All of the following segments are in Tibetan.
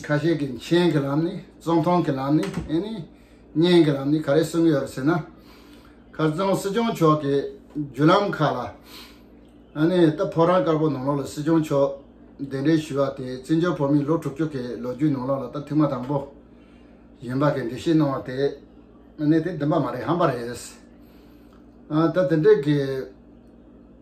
ཁ་ཤས་ཀྱིས་མཆན་གྱི་ལམ་ནས་རྩོམ་ཐུང་གི་ལམ་ནས་ཨེ་ནས་བརྙན་གྱི་ལམ་ནས་ག་རེ་གསུང་གི་ཡོད་ཟེར་ན། ཁ་རྩང་སྲིད་སྐྱོང་མཆོག་གི་བརྒྱུད་ལམ་ཁག་ལ་ཨ་ནི་ད་ཕོ་རང་དཀར་པོ་ནང་ལོག་ལ་སྲིད་སྐྱོང་མཆོག་གདན་འདྲེན་ཞུས་བ་དེ་བཙན་བྱོལ་བོད་མིའི་ལོ་དྲུག་ཅུ་གི་ལོ་རྒྱུས་ནང་ལོག་ལ་ད་ཐེངས་མ་དང་པོ་ཡིན་པ་གི་འགྲེལ་བཤད་གནང་བ་དེ་ཨ་ནི་དེ་བདེན་པ་མ་རེད་ཧམ་པ་རེད། ད་དེ་འདྲས་ཀྱི།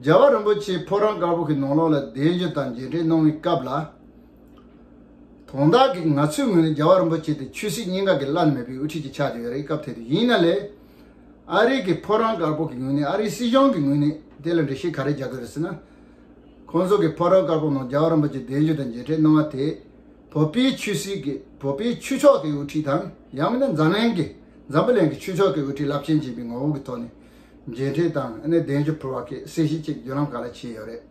རྒྱལ་བ་རིན་པོ་ཆེས་ཕོ་བྲང་དཀར་པོ་གི་ནང་ལོགས་ལ་གདན་རྒྱུ་དང་མཇལ་འཕྲད་གནང་བའི་སྐབས་ལ། དོན་དག་གིས་ང་ཚོའི་ངོས་ནས་རྒྱལ་བ་རིན་པོ་ཆེ་དེ་ཆོས་སྲིད་གཉིས་ཀ་གི་བླ་ན་མེད་པའི་དབུ་ཁྲིད་ཅིག་ཆགས་ཀྱི་ཡོད་རེད་སྐབས་དེ་དུས་ཡིན་ན་ལས། ཨ་རིག་གི་ཕོ་བྲང་དཀར་པོ་གི་ངོས་ནས་ཨ་རིའི་སྲིད་གཞུང་གི་ངོས་ནས་དེ་ལ་འགྲེལ་བཤད་ག་རེ་རྒྱག་གི་རེད་ཟེར་ན། ཁོང་ཚོ་གི་ཕོ་བྲང་དཀར་པོ་ནང་རྒྱལ་བ་རིན་པོ་ཆེས་གདན་རྒྱུ་དང་མཇལ་འཕྲད་གནང་བ་དེས་བོད་པའི་ཆོས་སྲིད་ཀྱི་བོད་པའི་ཆོས་ཕྱོགས་ཀྱི་དབུ་ཁྲིད་དང་ཡང་མིན་ན་འཛམ་གླིང་གི་འཛམ་བུ་གླིང་གི་ཆོས་ཕྱོགས་ཀྱི་དབུ་ཁྲིད་རླབས་ཆེན་ཅན་པའི་ངོ་བོ་གི་ཐོག་ནས་མཇལ་འཕྲད་དང་གདན་ཞུ་ཕུལ་བ་ཁེགས་སེ་ཞིག་ཅིག་བརྒྱུད་ལམ་ག་ལ་བྱས་ཡོད་རེད།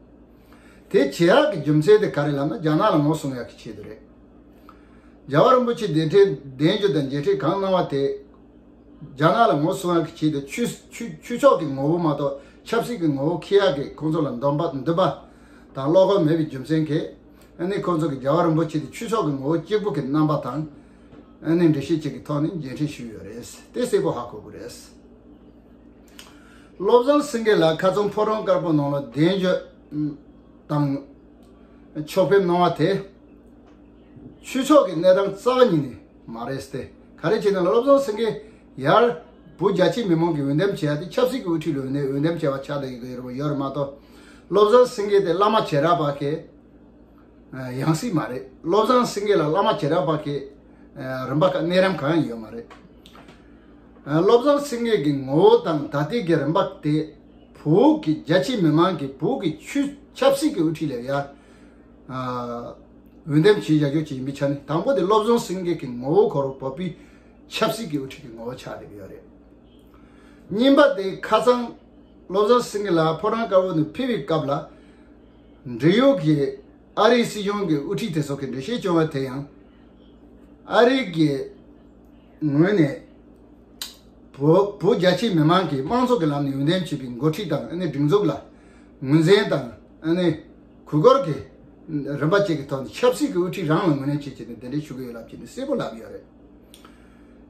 དེ་བྱས་ཡག་གི་རྒྱུ་མཚན་དེ་ག་རེད་ལབ་ན་རྒྱ་ནག་ལ་ངོ་སྲུང་ཡག་གི་ཆེད་དུ་རེད། རྒྱལ་བ་རིན་པོ་ཆེ་གདན་འཕྲེད་གདན་ཞུ་དང་མཇལ་འཕྲད་གང་གནང་བ་དེ། རྒྱ་ནག་ལ་ངོ་སྲུང་ཡག་གི་ཆེད་དུ་ཆུ་ཕྱོགས་ཀྱི་ངོ་བོ་མ་གཏོགས་ཆབ་སྲིད་ཀྱི་ངོ་བོ་ཁེགས་ཡག་གི་ཁོང་ཚོ་ལ་འདོམས་པ་འདུན་པ་དང་བློ་ཁོག་མེད་པའི་རྒྱུ་མཚན་ཁེགས་ཁོང་ཚོ་གི་རྒྱལ་བ་རིན་པོ་ཆེ་དེ་ཆུ་ཕྱོགས་ཀྱི་ངོ་བོ་གཅིག་པུ་གི་རྣམ་པ་དང་འདྲི་གཞི་ཅིག་གི་ཐོག་ནས་མཇལ་འཕྲད་ཞུས་ཡོད་རེད་དེ་གསལ་པོ་ཧ་གོ་དགོས་རེད། བློ་བཟང་སེང་གེ་ལགས་ཁ་ཚོམ་ཕོ་བྲང་དཀར་པོ་ནང་ལ་གདན་བརྗོད་དང། ཕྱོགས་ཕེབས་གནང་བ་དེ། ཆོས་ཕྱོགས་ཀྱི་གནས་སྟངས་རྩ་བ་ཉིད་ནས་མ་རེད་ཏེ། ག་རེ་བྱས་ན་བློ་བཟང་སེང་གེ་ཡར། བུ་རྒྱ་ཆེའི་མི་མང་གི་འོས་འདེམས་བྱས་ཏེ་ཆབ་སྲིད་ཀྱི་དབུ་ཁྲིད་ལོན་ནས་འོས་འདེམས་བྱས་པ་ཆགས་སྡང་ཡོད་མ་གཏོགས། བློ་བཟང་སེང་གེ་དེ་བླ་མ་བྱེས་ར་བ་ཁེ། ཡང་སྲིད་མ་རེད་བློ་བཟང་སེང་གེ་ལ་བླ་མ་ཇེ་རབ་པ་གི་རིམ་པ་ག་གནས་རིམ་གང་ཡང་ཡོད་མ་རེད་བློ་བཟང་སེང་གེ་གི་ངོ་བོ་དང་དག་སྡིག་གི་རིམ་པ་དེ་བོད་ཀྱི་རྒྱ་ཆེའི་མི་མང་གིས་བོད་ཀྱི་ཆུས་ཆབ་སྲིད་ཀྱི་དབུ་ཁྲིད་ལས་ཡར་འོས་འདེམས་བྱེད་བཞག་རྒྱུ་བྱེད་ཡིན་པའི་ཆ་ནས་དང་པོ་དེ་བློ་བཟང་སེང་གེ་གི་ངོ་བོ་གོ་རོགས་བོད་པའི་ཆབ་སྲིད་ཀྱི་དབུ་ཁྲིད་ཀྱི་ངོ་བོ་ཆགས་བསྡད་ཡོད་རེད་གཉིས་པ་དེ་ཁ་སང་བློ་བཟང་སེང་གེ་ལ་ཕོ་བྲང་དཀར་བོ་ནས་ཕེབས་པའི་སྐབས་ལ། འབྲེལ་ཡོད་ཀྱི་ཨ་རིའི་སྲིད་གཞུང་གི་དབུ་ཁྲིད་དེ་ཚོ་གི་འགྲེལ་བཤད་བྱུང་བ་དེ་ཡང། ཨ་རི་གི་ངོས་ནས་བོད་རྒྱ་ཆེའི་མི་མང་གིས་དམངས་གཙོ་གི་ལམ་ནས་ཡོངས་འདེམས་བྱས་པའི་མགོ་ཁྲིད་དང་སྒྲིག་འཛུགས་ལ་ངོས་འཛིན་དང་གུས་བཀུར་གྱི་རིམ་པ་བཅས་ཀྱི་ཐོག་ནས་ཆབ་སྲིད་ཀྱི་དབུ་ཁྲིད་རང་ལ་ངོས་ལེན་བྱེད་ཆེད་ནས་དེ་འདྲའི་ཞུ་གི་ཡོད་ལབ་ཅེས་ནས་གསལ་པོ་ལབ་ཡོད་རེད།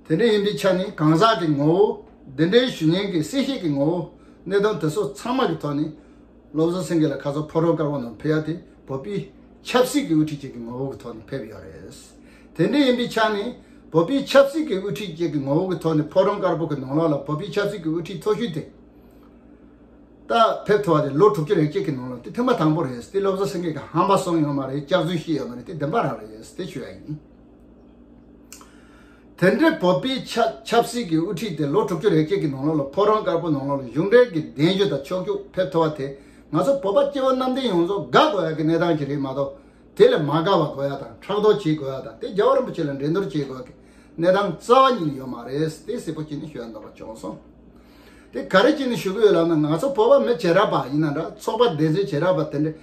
དེ་འདྲ་ཡིན་པའི་ཆ་ནས་གང་ཟག་གི་ངོ་བོ་འདི་འདྲའི་ཞུ་སྙན་གྱི་གསལ་བཤད་ཀྱི་ངོ་བོ་གནད་དོན་དེ་ཚོ་ཚང་མ་གྱི་ཐོག་ནས། བློ་བཟང་སེང་གེ་ལ་ཁ་ཚ་ཕོ་བྲང་དཀར་པོ་ནང་ཕེབས་ཡ་དེ་བོད་པའི་ཆབ་སྲིད་ཀྱི་དབུ་ཁྲིད་ཅིག་གི་ངོ་བོ་གི་ཐོག་ནས་ཕེབས་ཡོད་རེད། དེ་འདྲ་ཡིན་པའི་ཆ་ནས་བོད་པའི་ཆབ་སྲིད་ཀྱི་དབུ་ཁྲིད་ཅིག་གི་ངོ་བོ་གི་ཐོག་ནས་ཕོ་བྲང་དཀར་པོ་གི་ནང་ལོགས་ལ་བོད་པའི་ཆབ་སྲིད་ཀྱི་དབུ་ཁྲིད་མཐོ་ཤོས་དེ་ད་ཕེབས་ཐུབ་པ་དེ་ལོ་དྲུག་ཅུ་རེ་བཅས་ཀྱི་ནང་ལོགས་དེ་ཐེངས་མ་དང་པོ་རེད་དེ་བློ་བཟང་སེང་གེ་གི་ཧམ་པ་སོང་ཡོད་མ་རེད་སྐྱག་རྫུན་བཤད་ཡོད་མ་རེད་དེ་བདེན་པ་རང་རེད་དེ་ཞུ་ཡ་ཡིན། དེ་འདྲའི་བོད་པའི་ཆབ་སྲིད་ཀྱི་དབུ་ཁྲིད་དེ་ལོ་དྲུག་ཅུ་རེ་བརྒྱད་ཀྱི་ནང་ལོགས་ལ་ཕོ་བྲང་དཀར་པོ་ནང་ལོགས་ལ་གཞུང་འབྲེལ་གྱི་གདན་ཞུ་དང་ཕྱོགས་རྒྱུགས་ཕེབས་ཐུབ་པ་དེ་ང་ཚོ་བོད་པ་སྐྱེ་བོ་གནམ་བསྟན་ཡོངས་རྫོགས་དགའ་དགོས་ཡག་གི་གནས་སྟངས་ཤིག་རེད་མ་གཏོགས་དེ་ལས་མ་དགའ་བ་དགོས་ཡག་དང་ཕྲག་དོག་བྱེད་དགོས་ཡག་དང་དེ་རྒྱལ་བ་རིན་པོ་ཆེ་ལ་འགྲན་བསྡུར་བྱེད་དགོས་ཡག་གི་གནས་སྟངས་རྩ་བ་ཉིད་ནས་ཡོད་མ་རེད་ཟེར་ཏེ་སེར་པོ་སྐྱིད་ནས་ཞུ་ཡ་འདོགས་པ་བྱུང་སོང། དེ་ག་རེ་བྱས་ནས་ཞུ་གི་ཡོད་ལབ་ན་ང་ཚོ་བོད་པ་མི་བྱེ་བྲག་པ་ཡིན་ན་འདྲ་ཚོགས་པ་བདེན་རྫུན་བྱེ་བྲག་པ་དེ་འདྲས་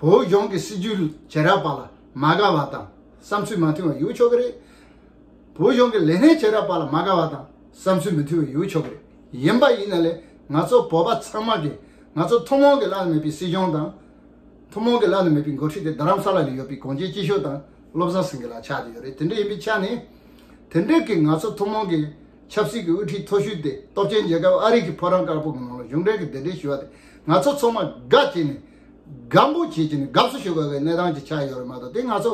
བོད་གཞུང་གི་སྲིད་ཇུས་བྱེ་བྲག་པ་ལ་མ་དགའ་བ་དང་བསམ་ཚུལ་མ་མཐུན་བ་ཡོད་ཆོག་གི་རེད། བོད་གཞུང་གི་ལས་སྣེ་བྱས་རབས་པ་ལ་མ་དགའ་བ་དང་བསམ་ཚུལ་མི་མཐུན་བའི་ཡོད་ཆོག་གི་རེད། ཡིན་པ་ཡིན་ན་ལས་ང་ཚོ་བོད་པ་ཚང་མ་གིས་ང་ཚོ་ཐུན་མོང་གི་བླ་ན་མེད་པའི་སྲིད་གཞུང་དང། ཐུན་མོང་གི་བླ་ན་མེད་པའི་འགོ་ཁྲིད་དེ་རྡ་རམ་ས་ལ་ནས་ཡོད་པའི་གངས་ཅན་སྐྱིད་ཤོད་དང་བློ་བཟང་སེང་གེ་ལ་ཆགས་བསྡད་ཡོད་རེད་དེ་འདྲ་ཡིན་པའི་ཆ་ནས། དེ་འདྲས་ཀྱིས་ང་ཚོ་ཐུན་མོང་གི་ཆབ་སྲིད་ཀྱི་དབུ་ཁྲིད་མཐོ་ཤོས་དེ་སྟོབས་ཆེན་རྒྱལ་ཁབ་ཨ་རི་གི་ཕོ་བྲང་དཀར་པོ་གི་ནང་ལ་གཞུང་འབྲེལ་གྱི་གདན་འདྲེན་ཞུས་བ་དེ་ང་ཚོ་ཚང་མ་དགའ་བྱས་ནས་དགའ་འབོད་བྱེད་ཀྱི་ནས་དགའ་བསུ་ཞུ་དགོས་པའི་གནས་སྟངས་ཅིག་ཆགས་ཡོད་རེད་མ་གཏོགས་དེ་ང་ཚོ།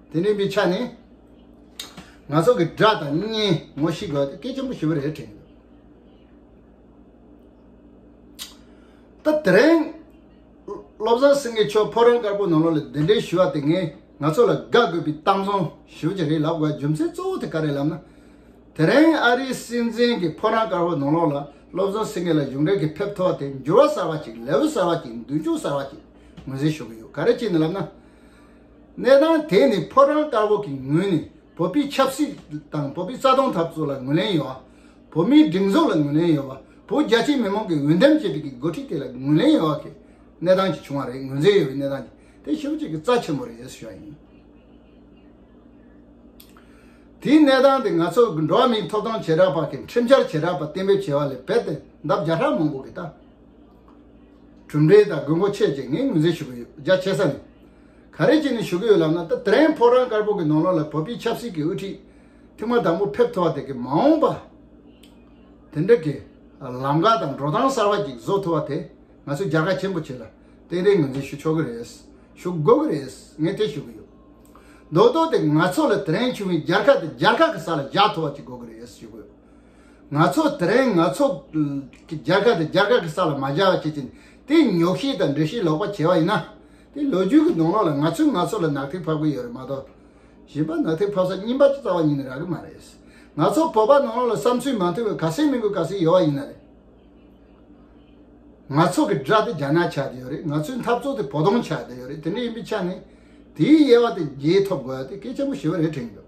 དེ་ནས་མི་ཆ་ནས་ང་ཚོ་གི་དགྲ་དང་གཉེན་ངོ་ཤེས་དགོས་སྐད་ཆེན་པོ་ཞུ་བ་རེད་དྲན་ད་དེ་རིང་བློ་བཟང་སེང་གེ་མཆོག་ཕོ་རོན་དཀར་པོ་ནང་ལོག་ལ་འདི་འདྲའི་ཞུ་བ་དེ་ངས་ང་ཚོ་ལ་དགག་དགོས་པའི་གཏམ་བཟང་ཞུ་རྒྱུ་རེད་ལབ་དགོས་རྒྱུ་མཚན་གཙོ་བོ་དེ་ག་རེད་ལབ་ན་དེ་རིང་ཨ་རིའི་སྲིད་འཛིན་གྱི་ཕོ་རོན་དཀར་པོ་ནང་ལོག་ལ་བློ་བཟང་སེང་གེ་ལ་གཞུང་འབྲེལ་གྱི་ཕེབས་མཐོ་བ་དེ་འགྱུར་བ་གསར་བ་ཅིག་ལེའུ་གསར་བ་ཅིག་མདུན་ཅོག་གསར་བ་ཅིག་ངོས་ཟིན་ཞུ་གི་ཡོད་ག་རེ་ཅིག་ནས་ལབ་ན་གནས་སྟངས་དེ་ནི་ཕོ་བྲང་དཀར་པོ་གི་ངོས་ནས་བོད་པའི་ཆབ་སྲིད་དང་བོད་པའི་རྩ་དོན་འཐབ་རྩོད་ལ་ངོས་ལེན་ཡོད་པ། བོད་མིའི་སྒྲིག་འཛུགས་ལ་ངོས་ལེན་ཡོད་པ་བོད་རྒྱ་ཆེའི་མི་མང་གི་འོས་འདེམས་བཅད་སྒྲིག་གི་འགོ་ཁྲིད་དེ་ལ་ངོས་ལེན་ཡོད་པ་གི་གནས་སྟངས་ཀྱི་བྱུང་བ་རེད་ངོས་འཛིན་ཡོད་པའི་གནས་སྟངས་ཀྱི་དེ་ཤུགས་གཅིག་གི་རྩ་ཆེན་པོ་རེད་ཟེར་ཞོར་ཡིན། དེའི་གནས་སྟངས་དེ་ང་ཚོ་འགྲོ་བ་མིའི་ཐོབ་ཐང་བྱེ་བྲག་པ་གི་ཁྲིམས་འཆར་བྱེ་བྲག་པ་གཏན་འབེབས་བྱས་པ་ལས་བལ་ཏེ་འདབ་བརྒྱ་ཧྲག་མང་པོ་གི་ལྟ་གྲུབ་འབྲས་དང་དགོས་མཁོ་ཆེ་བཅས་ངས་ངོས་འཛིན་ཞུ་གི་ཡོད་རྒྱ་ཆེ་ས་ནས་ག་རེ་བྱས་ནས་ཞུ་གི་ཡོད་ལབ་ན་ད་ཐེངས་ཕོ་བྲང་དཀར་པོ་གི་ནང་ལོགས་ལ་བོད་པའི་ཆབ་སྲིད་ཀྱི་དབུ་ཁྲིད་ཐེངས་མ་དང་པོ་ཕེབས་ཐུབ་པ་དེ་གི་མ་འོངས་པ་དེ་འདྲ་གི་ལམ་ཁ་དང་འགྲོ་སྟངས་གསར་བ་ཅིག་བཟོ་ཐུབ་པ་དེ་ང་ཚོས་རྒྱལ་ཁ་ཆེན་པོ་བྱེད་ལ་གཏན་རེ་ངོས་འཛིན་ཞུ་ཆོག་གི་རེད་ཞུ་དགོས་ཀྱི་རེད་ངས་དེ་ཞུ་གི་ཡོད་མདོག་མདོག་དེ་ང་ཚོ་ལ་དེ་རིང་བྱུང་བའི་རྒྱལ་ཁ་དེ་རྒྱལ་ཁ་གི་ས་ལ་བཞག་ཐུབ་པ་ཅིག་དགོས་ཀྱི་རེད་ཞུ་གི་ཡོད། ང་ཚོ་དེ་རིང་ང་ཚོ་རྒྱ་གར་དེ་རྒྱ་གར་གྱི་ས་ལ་མ་བཞག་བྱེད་ཅིང་དེ་ཉོག་ཤེས་དང་འདྲེ་ཤེས་ལོག་པ་བྱས་བ་ཡིན་ན། དེ་ལོ་རྒྱུས་ཀྱི་གདོང་ལོག་ལ་ང་ཚོས་ང་ཚོ་ལ་ནག་ཐིག་ཕབ་གི་ཡོད་རེད་མ་གཏོགས། གཞན་པ་ནག་ཐིག་ཕབ་ས་རྙིང་པ་ཅུ་རྩ་བ་ཉིད་ནས་རག་གི་མ་རེད། ང་ཚོ་བོད་པ་ནང་ལོག་ལ་བསམ་ཚུལ་མ་མཐུན་བས་ག་ཟེ་མི་དགོས་ག་ཟེ་ཡོད་བ་ཡིན་ན་རེད། ང་ཚོ་གི་དགྲ་དེ་རྒྱ་ནག་ཆགས་དེ་ཡོད་རེད་ང་ཚོའི་འཐབ་ཚོགས་དེ་བོ་དོང་ཆགས་དེ་ཡོད་རེད་དེ་འདྲ་ཡིན་པའི་ཆ་ནས། དེའི་དབྱེ་བ་དེ་རྗེས་ཐོབ་དགོས་ཡ་དེ་སྐད་ཆེན་པོ་ཞེ་བ་རེ་དྲན་འདུག།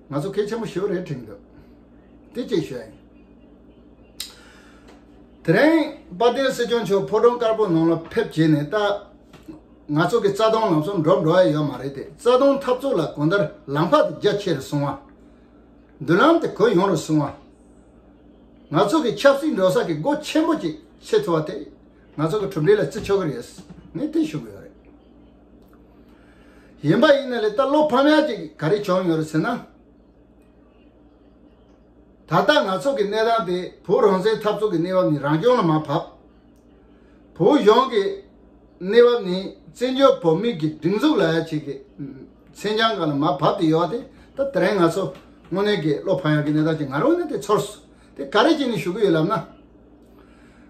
ང་ཚོ་སྐད་ཆེན་པོ་ཞོ་རེ་དྲིས་འདུག་དེ་ཅིག་བྱས། དེ་རིང་དཔལ་ལྡན་སྲིད་སྐྱོང་མཆོག་ཕོ་བྲང་དཀར་པོ་ནང་ལ་ཕེབས་བྱས་ནས་ད་ང་ཚོ་གི་རྩ་སྟོང་ལམ་གསུམ་འགྲོ་འགྲོ་ཡ་ཡོད་མ་རེད་དེ་རྩ་སྟོང་འཐབ་རྩོད་ལ་གོ་འདར་ལམ་ཕག་དེ་རྒྱ་ཆེ་རུ་སོང་བ། མདུན་ལམ་དེ་གོ་ཡོང་རུ་སོང་བ། ང་ཚོ་གི་ཆབ་སྲིད་འགྲོ་ས་གི་སྒོ་ཆེན་པོ་ཅིག་ཕྱེ་ཐུབ་བ་དེ་ང་ཚོ་གི་གྲུབ་འབྲས་ལ་བརྩི་ཆོག་གི་རེད་ངས་དེ་ཞུ་གི་ཡོད་རེད། ཡིན་པ་ཡིན་ན་ལས་ལྟ་བློ་ཕམ་ཡག་ཅིག་ག་རེ་བྱུང་ཡོད་རེད་ཟེར་ན། ད་ལྟ་ང་ཚོ་གི་གནས་སྟངས་དེ་བོད་རང་བཙན་འཐབ་རྩོད་ཀྱི་གནས་བབ་ནི་རང་སྐྱོང་ལ་མ་བབས། བོད་གཞུང་གི་གནས་བབ་ནི་བཙན་བྱོལ་བོད་མིའི་གི་སྒྲིག་འཛུགས་ལ་ཡ་བྱེད་ཀྱི་མཚན་བྱང་ག་ལ་མ་བབས་དེ་ཡོད་དེ་ད་དེ་རིང་ང་ཚོ་དངོས་གནས་གི་བློ་ཕམ་ཡག་གི་གནས་སྟངས་ཅིག་ང་རང་ངོས་ནས་དེ་ཚོར་སོང་དེ་ག་རེ་བྱས་ནས་ཞུ་གི་ཡོད་ལབ་ན།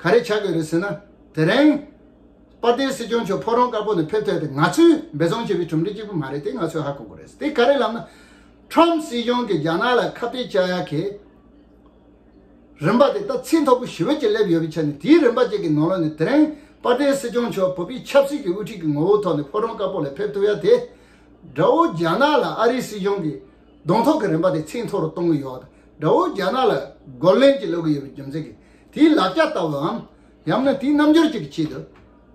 ག་རེ་བྱ་དགོས་རེད་ཟེར་ན། དེ་རིང། དཔའ་རྟའི་སྲིད་སྐྱོང་མཆོག་ཕོ་རོང་དཀར་པོ་ནས་ཕེབས་ཐོས་ཏེ་ང་ཚོས་འབད་བརྩོན་བྱེད་པའི་གྲུབ་འབྲས་གཅིག་པུ་མ་རེད་དེ་ང་ཚོས་ཧ་གོ་དགོས་རེད། དེ་ག་རེ་ལབ་ན། Trump སྲིད་སྐྱོང་གིས་རྒྱ་ནག་ལ་ཁ་གཏད་བཅག་ཡ་གི། རིམ་པ་དེ་ད་ཚིག་མཐོ་པོ་ཞི་བོ་གཅིག་སླེབས་ཡོད་པའི་ཆ་ནས་དེའི་རིམ་པ་གཅིག་གི་ནང་ལོགས་ནས་དེ་རིང་དཔའ་རྟའི་སྲིད་སྐྱོང་མཆོག་བོད་པའི་ཆབ་སྲིད་ཀྱི་དབུ་ཁྲིད་ཀྱི་ངོ་བོ་ཐོག་ནས་ཕོ་རོང་དཀར་པོ་ལ་ཕེབས་ཐུབ་ཡ་དེ། དགྲ་བོ་རྒྱ་ནག་ལ་ཨ་རིའི་སྲིད་སྐྱོང་གིས་གདོང་ཐོག་གི་རིན་པ་དེ་ཚད་མཐོ་རུ་གཏོང་གི་ཡོད། དགྲ་བོས་རྒྱ་ནག་ལ་རྒོལ་ལན་ཅིག་སློག་གི་ཡོད་པའི་རྒྱུ་མཚན་གྱིས་དེའི་ལ་རྒྱ་ལྟ་བུའམ། ཡང་ན་དེའི་རྣམ་འགྱུར་ཅིག་གི་ཆེད་དུ།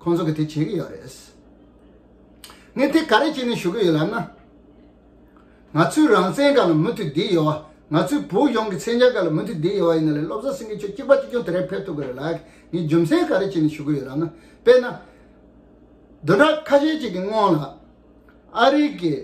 ཁོང་ཚོ་གིས་དེ་བྱེད་ཀྱི་ཡོད་རེད། ངས་དེ་ག་རེ་བྱས་ནས་ཞུ་གི་ཡོད་ལབ་ན། ང་ཚོའི་རང་བཙན་ག་ལ་མུ་མཐུད་བསྡད་ཡོད། ང་ཚོའི་བོད་གཞུང་གི་མཚན་བྱང་ག་ལ་མུ་མཐུད་བསྡད་ཡོད་ཡིན་ན་ལས་སློབ་གསོ་སེང་གེ་ཁྱོད་གཅིག་པ་གཅིག་སྐྱོང་དེ་རིང་ཕེབས་ཐུབ་གི་རེད་ལགས་ངས་རྒྱུ་མཚན་ག་རེ་བྱས་ནས་ཞུ་གི་ཡོད་ལབ་ན། དཔེར་ན། བདུན་ཕྲག་ཁ་ཤས་ཅིག་གི་སྔོན་ལ། ཨ་རིག་གིས།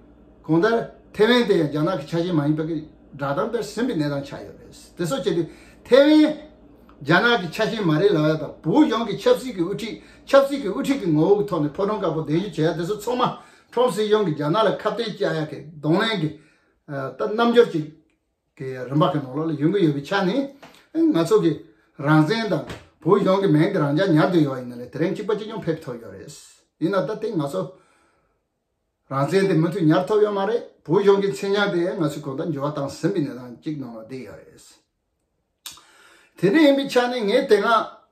གོང་ལྟར་ཐེ་ཝན་དེ་ཡང་རྒྱ་ནག་གི་ཆ་ཤས་མ་ཡིན་པ་ཀི་སྒྲ་གདངས་དཔེར་ཟིན་པའི་གནས་སྟངས་ཆགས་ཡོད་པ་རེད། དེ་སོགས་བྱས་ཏེ་ཐེ་ཝན་རྒྱ་ནག་གི་ཆ་ཤས་མ་རེད་ལ་ཝེ་དང་བུའུ་ཡོང་གི་ཆབ་སྲིད་ཀྱི་དབུ་ཁྲིད་ཆབ་སྲིད་ཀྱི་དབུ་ཁྲིད་ཀྱི་ངོ་བོ་གི་ཐོག་ནས་ཕོ་བྲང་དཀར་པོ་གདན་ཞུ་བྱས་ཡ་དེ་ཚོ་ཚང་མ་ཁྲོམ་སྲིད་གཞུང་གིས་རྒྱ་ནག་ལ་ཁ་བརྡའི་བཅའ་ཡ་གི་གདོང་ལེན་གི་རྣམ་འགྱུར་ཅིག་གི་རིམ་པ་གི་ནང་ལོགས་ལ་ཡོང་གི་ཡོད་པའི་ཆ་ནས་ང་ཚོ་གི་རང་བཙན་དང་བུའུ་ཡོང་གི་མེང་གི་རང་འཇགས་ཉར་འདོད་ཡོད་པ་ཡིན་ན་ལས་དེ་རིང་གཅིག་པ་གཅིག་ཉུང་ཕེབས་ཐུབ་ཡོད་རེད། ཡིན་ན་ད་ཐེངས་ང་ཚོ། རང་བཙན་དེ་མུ་མཐུད་ཉར་ཐུབ་ཡོད་མ་རེད། བོད་གཞུང་གི་མཚན་སྙན་དེ་ང་ཚོས་གོང་ལྟར་འགྱུར་བ་བཏང་ཟིན་པའི་གནས་སྟངས་གཅིག་ནང་ལ་བསྡད་ཡོད་རེད། དེ་འདྲ་ཡིན་པའི་ཆ་ནས་ངས་དེ་སྔ་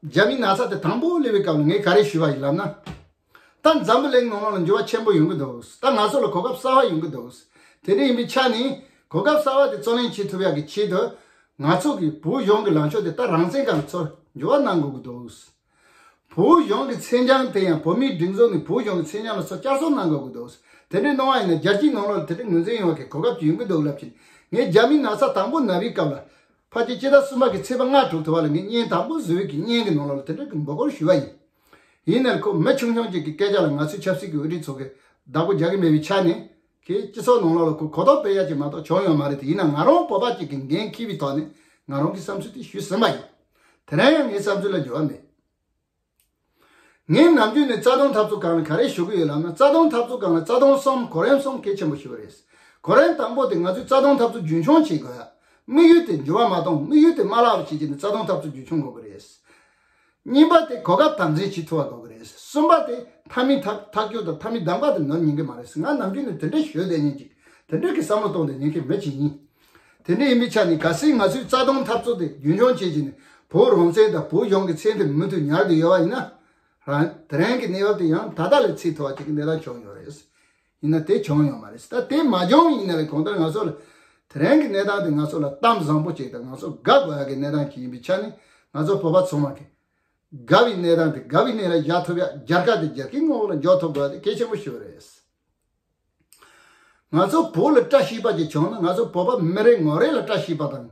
རྒྱ་མིའི་ན་ཚ་དེ་དང་པོ་གླེང་བའི་སྐབས་ལ་ངས་ག་རེ་ཞུས་པ་ཡིན་ལབ་ན། ད་འཛམ་བུ་གླིང་ནང་ལ་འགྱུར་བ་ཆེན་པོ་ཡོང་གི་འདུག་ད་ང་ཚོ་ལ་གོ་སྐབས་གསར་བ་ཡོང་གི་འདུག་དེ་འདྲ་ཡིན་པའི་ཆ་ནས་གོ་སྐབས་གསར་བ་དེ་བརྩོན་ལེན་བྱེད་ཐུབ་ཡག་གི་ཆེད་དུ། ང་ཚོ་གིས་བོད་གཞུང་གི་ལངས་ཕྱོགས་དེ་ད་རང་བཙན་ག་ལ་ཚོར་འགྱུར་བ་གནང་དགོས་ཀྱི་འདུག། བོད་གཞུང་གི་མཚན་བྱང་དེ་ཡང་བོད་མིའི་སྒྲིག་འཛུགས་ནས་བོད་གཞུང་གི་མཚན་བྱང་ལ་སོགས་བསྐྱར་གསོ་གནང་དགོས་ཀྱི་འདུག་དེ་འདྲའི་གནང་བ་ཡིན་ན་རྒྱལ་སྤྱིའི་ནང་ལོགས་ལ་དེ་འདྲའི་ངོས་འཛིན་ཡོང་བ་གའི་གོ་སྐབས་ཅིག་ཡོང་གི་འདུག་ལབ་ཕྱིན་ངས་རྒྱ་མིའི་ན་ཚ་དང་པོ་ན་བའི་སྐབས་ལ། ཕ་སྐད་སྤྱི་ཟླ་གསུམ་པ་གི་ཚེས་པ་ལྔ་དྲུག་དུ་བ་ལ་ངས་བརྙན་དང་པོ་བཟོས་ཀྱི་བརྙན་གྱི་ནང་ལོགས་ལ་དེ་འདྲ་གི་འབོད་སྐོར་ཞུས་པ་ཡིན། ཡིན་ནར་ཁོ་མི་ཆུང་ཆུང་ཅིག་གི་སྐད་ཆ་ལ་ང་ཚོའི་ཆབ་སྲིད་ཀྱི་འོས་བསྡུའི་ཚོགས་ཀྱིས་བདག་པོ་རྒྱག་གི་མེད་པའི་ཆ་ནས། གིས་སྤྱི་ཚོགས་ནང་ལོག་ལ་གོ་རྟོགས་སྤེལ་ཡ་ཅིག་མ་གཏོགས་བྱུང་ཡོད་མ་རེད་དེ་ཡིན་ན་ང་རང་སྤོབས་པ་གཅིག་གིས་འགན་འཁྱེར་བའི་ཐོག་ནས་ང་རང་གི་བསམ་ཚུལ་དེ་ཞུས་ཟིན་པ་ཡིན། དེ་རིང་ཡང་ངའི་བསམ་ཚུལ་ལ་འགྱུར་བ་མེད། ངས་ནམ་རྒྱུན་ནས་རྩ་དོན་འཐབ་རྩོད་གང་ལ་ག་རེ་ཞུ་གི་ཡོད་ལབ་ན་རྩ་དོན་འཐབ་རྩོད་གང་ལ་རྩ་དོན་གསུམ་གོ་རིམ་གསུམ་གལ་ཆེན་པོ་ཞུ་བ་རེད། གོ་རིམ་དང་པོ་དེ་ང་ཚོས་རྩ་དོན་འཐབ་རྩོད་རྒྱུན་འཁྱོངས་བྱེད་དགོས། དམིགས་ཡུལ་དེ་འགྱུར་བ་མ་གཏོང་དམིགས་ཡུལ་དེ་དམའ་ལགས་པ་བྱེད་ཀྱི་ནས་རྩ་དོན་འཐབ་རྩོད་རྒྱུན་འཁྱོངས་དགོས་པ་རེད། གཉིས་པ་དེ་གོ་སྐབས་དམ་འཛིན་བྱེད་ཐུབ་པ་དགོས་ཀྱི་རེད། གསུམ་པ་དེ་མཐའ་མི་མཐའ་མཐའ་སྐྱོར་དང་མཐའ་མི་གདམ་ག་དེ་ནོར་ཉན་གྱི་མ་རེད་ང་ནམ་རྒྱུན་ནས་དེ་འདྲ་ཞོད་བསྡད་ཉན་ཅིག་དེ་འདྲ་གི་བསམ་བློ་གཏོང་དེ་ཉན་མཁན་མེད་ཅིག་ཡིན། དེ་འདྲ་ཡིན་པའི་ཆ་ནས་ག་སྲིད་ང་ཚོའི་རྩ་དོན་འཐབ་རྩོད་དེ་རྒྱུན་འཁྱོངས་བྱེད་ཅིག་ནས་བོད་རང་བཙན་དང་བོད་གཞུང་གི་མཚན་དེ་མུ་མཐུད་ཉར་གྱི་ཡོད་པ་ཡིན་ན། དེ་རིང་གི་གནས་བབ་དེ་ཡང་ད་ལྟ་ལས་ཚེགས་མཐོ་བ་ཅིག་གི་གནས་སྟངས་བྱུང་ཡོད་རེད། ཡིན་ན་དེ་བྱུང་ཡོད་མ་རེད་ད་དེ་མ་བྱུང་བའི་ཡིན་ན་ལས་གོང་ལྟར་ང་ཚོ་ལ་དེ་རིང་གི་གནས་སྟངས་དེ་ང་ཚོ་ལ་གཏམ་བཟང་པོ་བྱས་ཏེ་ང་ཚོ་དགའ་དགོས་ཡག་གི་གནས་སྟངས་ཤིག་ཡིན་པའི་ཆ་ནས་ང་ཚོ་བོད་པ་ཚང་མ་གི་དགའ་བའི་གནས་སྟངས་དེ་དགའ་བའི་གནས་ལ་བཞག་ཐུབ་ཡག་རྒྱལ་ཁ་དེ་རྒྱལ་ཁའི་ངོ་བོ་ལ་འཇོག་ཐུབ་དགོས་ཡག་དེ་གལ་ཆེན་པོ་ཞིག་རེད། ང་ཚོ་བོད་ལ་བཀྲ་ཤིས་པ་ཅིག་བྱུང་ན་ང་ཚོ་བོད་པ་མི་རེ་ངོ་རེ་ལ་བཀྲ་ཤིས་པ་དང།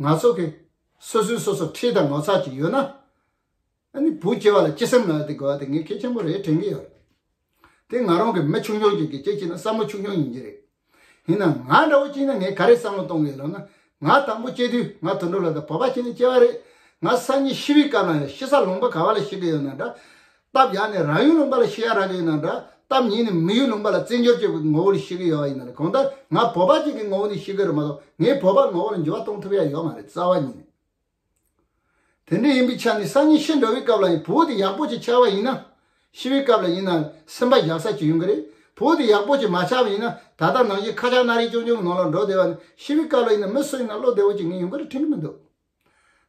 ང་ཚོ་གི་སོ་སོའི་སོ་སོར་འཁྲིད་དང་ངོ་ཚ་གྱི་ཡོད་ན། ཨ་ནི་བུ་སྐྱེ་བ་ལ་སྐྱེ་སེམས་ལ་དེ་དགོས་པ་དེ་ངས་གལ་ཆེན་པོ་རེད་དྲན་གྱི་ཡོད། དེ་ང་རང་གི་མི་ཆུང་ཆུང་གཅིག་གི་སྐྱེ་སྤྱི་ན་བསམ་བློ་ཆུང་ཆུང་ཡིན་གྱི་རེད། ཡིན་ནའང་ང་འདྲ་བོ་སྐྱེས་ན་ངས་ག་རེ་བསམ་བློ་གཏོང་གི་ཡོད་ལབ་ན། ང་དང་པོ་སྐྱེས་དུས་ང་དུད་འགྲོ་ལ་དང་བོ་པ་སྐྱེས་ནས་སྐྱེ་བ་རེད། ང་སང་ཉིན་ཤི་བའི་སྐབས་ལའང་ཤི་ས་ལོངས་པ་ག་བ་ལ་ཤི་གི་ཡོད་ན་འདྲ། སྟབས་ཡག་ནི་རང་ཡུལ་ལུང་པ་ལ་ཤི་ཡ་རག་གི་ཡོད་ན་འདྲ་སྟབས་ཉེས་ནི་མི་ཡུལ་ལུང་པ་ལ་བརྩི་འཇོར་བྱེད་དགོས་ཀྱི་ངོ་བོ་ལ་ཤི་གི་ཡོད་ཡིན་ན་ལ་གང་ལྟར་ང་བོད་པ་གཅིག་གི་ངོ་བོ་ནས་ཤི་གི་རེད་མ་གཏོགས་ངས་བོད་པ་ངོ་བོ་ལ་འགྱུར་བ་གཏོང་ཐུབ་ཡ་ཡོད་མ་རེད་རྩ་བ་ཉིད་ནས་དེ་འདྲ་ཡིན་པའི་ཆ་ནས་སང་ཉིན་ཤི་འགྲོ་བའི་སྐབས་ལ་ཡང་བོད་དེ་ཡག་པོ་ཅིག་ཆགས་པ་ཡིན་ན་ཤི་བའི་སྐབས་ལ་ཡིན་ན་སེམས་པ་བཞག་ས་ཅིག་ཡོང་གི་རེད་བོད་དེ་ཡག་པོ་ཅིག་མ་ཆགས་པ་ཡིན་ན་ད་ལྟ་ནང་བཞིན་ཁ་ཆག་སྣ་རིས་ཅུང་ཅུང་གི་ནང་ལ་འགྲོ་བསྡད་པ་ནི་ཤི་བའི་སྐབས་ལ་ཡིན་ན་མི་སུ་ཡིན་ན་བློ་བདེ་བོ་ཅིག་ངེས་ཡོང་གི་རེད་ཁྲིམས་མི་འདུག།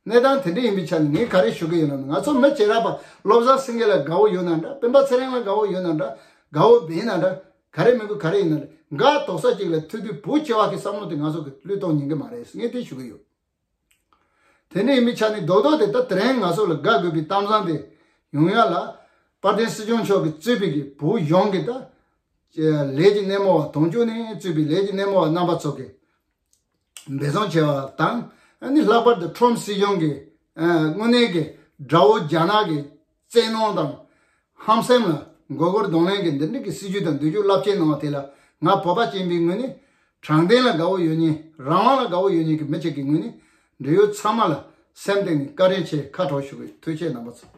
གནས་སྟངས་དེ་འདྲ་ཡིན་པའི་ཆ་ནས་ངས་ག་རེ་ཞུ་གི་ཡིན་ནམ། ང་ཚོ་མི་བྱེ་ར་པ་བློ་བཟང་སེང་གེ་ལ་དགའ་བོ་ཡོད་ན་འདྲ། སྤེན་པ་ཚེ་རིང་ལ་དགའ་བོ་ཡོད་ན་འདྲ། དགའ་བོ་སྦེད་ན་འདྲ། ག་རེ་མི་དགོས་ག་རེ་ཡིན་ན་འདྲ། འགའ་དོག་ས་གཅིག་ལ་ཐུག་དུས་བོད་ཆེ་བ་གི་བསམ་བློ་དེ་ང་ཚོ་གི་བློས་གཏོང་ཉན་གི་མ་རེད་ངས་དེ་ཞུ་གི་ཡོད། དེ་འདྲ་ཡིན་པའི་ཆ་ནས་རྡོག་རྡོག་དེ་ད་དེ་རིང་ང་ཚོ་ལ་དགའ་དགོས་པའི་གཏམ་བཟང་དེ་ཡོང་ཡ་ལ། དཔལ་ལྡན་སྲིད་སྐྱོང་མཆོག་གི་གཙོས་པའི་གི་བུ་གཞོན་གི་ད། ལས་ཀྱི་སྣེ་མོ་བ་དོང་ཅོ་ནས་གཙོས་པའི་ལས་ཀྱི་སྣེ་མོ་བ་རྣམ་པ་ཚོ་གི། འབད་བརྩོན་བྱས་པ་དང་ནི་ལྷག་པར་དུ་ཁྲོམ་སྲིད་གཞུང་གི་དངོས་གནས་ཀྱི་དགྲ་བོ་རྒྱ་ནག་གི་བཙན་གནོན་དང་ཧམ་སེམས་ལ་མགོ་སྐོར་གདོང་ལེན་གྱིས་འདི་འགྲིག་གི་སྲིད་ཇུས་དང་འདུལ་ཕྱུག་རླབས་ཆེན་གནང་བ་དེ་ལ་ང་བོད་པ་སྤྱི་འབིང་ངོས་ནས་དྲང་བདེན་ལ་དགའ་བོ་ཡོད་ཉིན་རང་དབང་ལ་དགའ་བོ་ཡོད་ཉིན་གྱི་མི་གཅིག་གི་ངོས་ནས་འབྲེལ་ཡོད་ཚང་མ་ལ་སེམས་སྟེང་ནས་བཀའ་དྲིན་ཆེ་ཁ་དྲོ་ཞུ་བའི་ཐུགས་ཆེ་གནང་བ་སོགས།